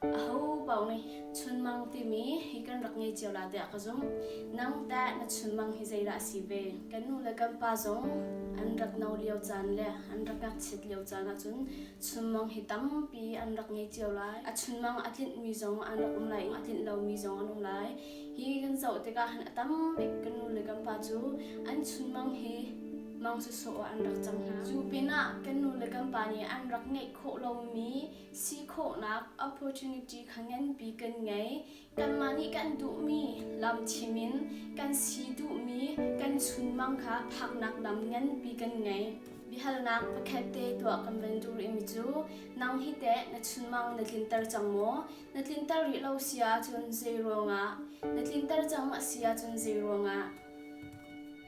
Ahopaoh nih chunmang timi hi kan rak ngei cio la tiah ka zumh. Nang teh na chunmang hi zeidah a si ve? Kan nu le kan pa zong an rak no lio caan le an rak ngakchiat lio caan ahcun chunmang hi tampi an rak ngei cio lai. A chunmang a tlinhmi zong an rak um lai i a tlinh lomi zong an um lai. Hi kan zoh tikah han a tam bik kan nu le kan pa cu an chunmang hi mang cu sawh ah an rak cang hna. Cu pinah kan nu le kan pa nih an rak ngeih khawh lomi si khawhnak opportunity kha nganpi kan ngei kanmah nih kan duhmi lam chim in kan si duhmi kan chunmang kha phaknak lam nganpi kan ngei bihalnak pakhat te tuah kan van dur imi cu nang hi te na chunmang na tlinter cang maw na tlinter rih lo sia cun zei ruangah na tlinter cang ma sia cun zei ruangah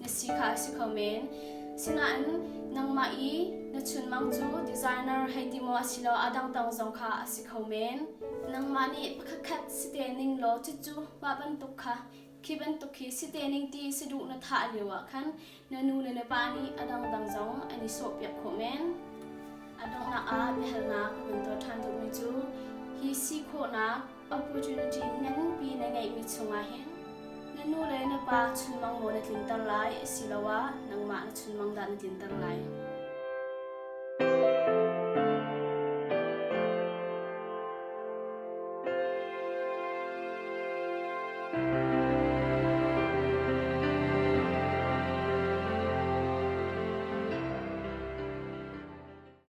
na si kha a si kho men. Sinain nangmah i na chunmang cu designer hei ti maw asilo a dang dang zong kha a si kho men. Nangmah nih pakhatkhat si te ning law cucu mah bantuk kha khi bantuk hi si te ning ti si duh na thah lio ah khan na nu le na pa nih a dang dang zong an i sawhpiak khawh men. A donghnak ah biahalnak kan tuah ṭhan duhmi cu hi si khawhnak Opportunity na nunpi na ngeihmi chungah hin na nu le na pa chunmang nawl na tlinter lai asiloah nangmah na chunmang dah na tlinter lai.